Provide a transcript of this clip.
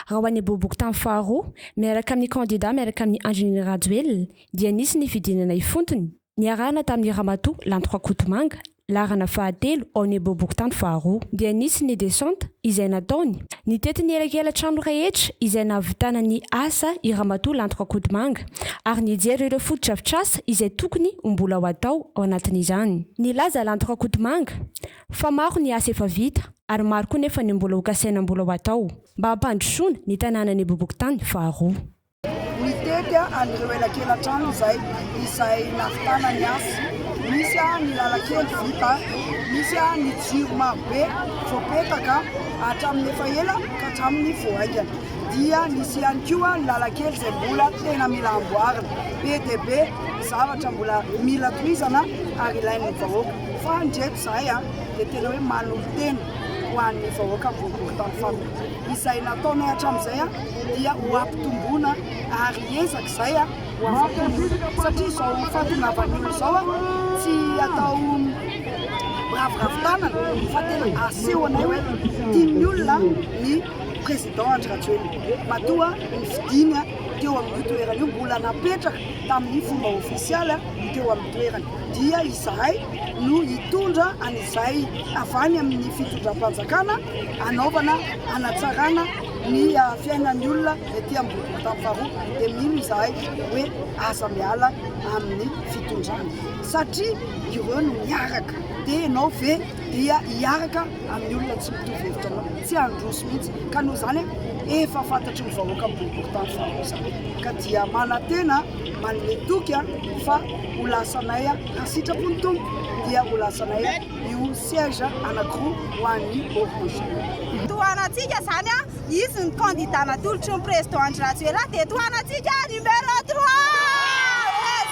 Raha ho an'ny bobokotany faharoa, miaraka amin'ny kandida miaraka amin'ny Andrinirina Rajoelina, dia nisy ny fidinana ifontony, niarahana tamin'ny Ramatoa Lanto Rakotomanga, laharana fahatelo ao amin'ny bobokotany faharoa. Dia nisy ny descente izay nataony, nitety ny elakelan-trano rehetra izay nahavitana ny asa i Ramatoa Lanto Rakotomanga, ary nijery ireo fotodrafitrasa izay tokony ho mbola ho atao ao anatin'izany. Nilaza Lanto Rakotomanga, Fa maro ny asa efa vita ary maro koa nefa ny mbola ho kasaina mbola ho atao mba hampandrosoana ny tanànan'i Bobokotany faharoa. Nitety an'ireo elakelan-trano izay izay nahavitana ny asa. Misy ny lalan-kely vita, misy ny jiro marobe voapetaka hatramin'ny efa ela ka hatramin'ny vao haingana, dia nisy ihany koa ny lalan-kely izay mbola tena mila amboarina. Be dia be ny zavatra mbola mila tohizana ary ilain'ny vahoaka. Fa ndry eto zahay a dia tena hoe manolo-tena ho an'ny vahoaka boribory tany faritra. Izay nataonay hatramin'izay a dia ho ampitomboina ary hiezaka izay a ho afa-po satria izao fahatongavan'ny olona izao a tsy atao miraviravy tanana fa tena asehonay hoe tian'ny olona ny président Andry Rajoelina. Matoa ny fidiny teo amin'io toerana io mbola napetraka tamin'ny fomba ofisialy teo amin'ny toerana. dia izahay no hitondra an'izay avy any amin'ny fitondram-panjakana hanaovana hanatsarana ny fiainan'ny olona ety ambodin'ny tany faharoa dia mino izahay hoe aza miala amin'ny fitondrana satria ireo no miaraka dia ianao ve dia hiaraka amin'ny olona tsy mitovy hevitra anao tsy handroso mihitsy ka noho izany efa fantatry ny vahoaka ambodin'ny tany faharoa izany ka dia manantena manome toky fa ho lasanay raha sitrapo ny Tompo dia ho lasanay io siège anankiroa ho an'ny Orange. Tohanantsika izany an, izy ny candidat natolotry ny Président Andry Rajoelina dia tohanantsika numéro trois!